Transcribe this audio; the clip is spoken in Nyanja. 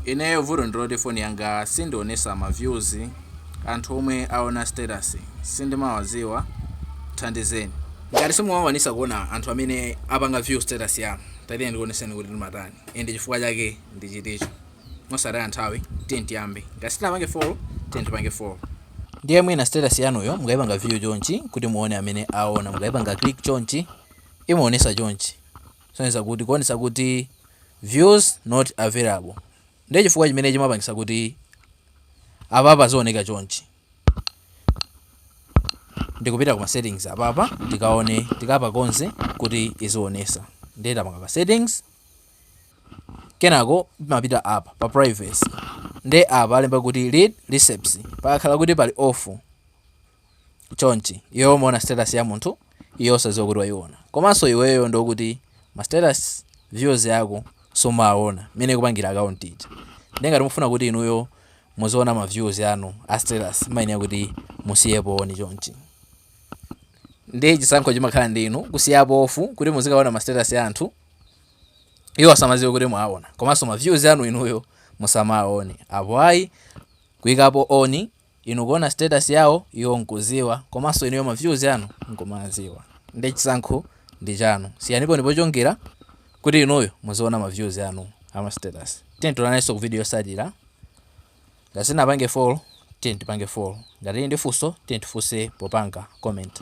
Ineyo vuto ndiloti phone yanga sindionesa ma views anthu omwe aona status sindimawaziwa thandizeni. Ngati simumakwanisa kuona anthu amene apanga view status yanu, tatiyeni ndikuoneseni kuti timatani and chifukwa chake ndi chiticho. Mosataya nthawi tiyeni tiyambe. Ngati sitinapange follow tiyeni tipange follow. Ndiye mwina status yanuyo mukaipanga view chonchi kuti muone amene aona mukaipanga click chonchi imaonesa chonchi. kusonyeza kuti kuonesa kuti views not available ndiye chifukwa chimene chimapangisa kuti apapa zioneka chonchi ndikupita kuma settings apapa tikaone tikapakonze kuti izionesa ndiye tapanga pa settings kenako timapita apa pa privacy ndiye apa alemba kuti read receipts pakakhala kuti pali off chonchi iweyo umaona status ya munthu iye osadziwa kuti waiona komanso iweyo ndiokuti ma status views ako sumawaona mmene ikupangira account ija nde ngati mufuna kuti inuyo muziona ma views anu a status mmayenera kuti musiyepo on chonchi ndiye chisankho chimakhala ndi inu kusiyapo off kuti muzikaona ma status ya anthu iwo asamadziwe kuti mwaona komanso ma views anu inuyo musamaone apo ayi kuikapo on Inu kuona status yawo iwo nkuziwa komanso inuyo ma views anu nkumaziwa nde chisankho ndi chanu siyanipo on pochongera kuti inuyo muziona ma views anu ama status tiyeni tionanenso mu video yosatira ngati sitinapange follow tiyeni tipange follow ngati muli ndi funso tiyeni tifunse popanga comment.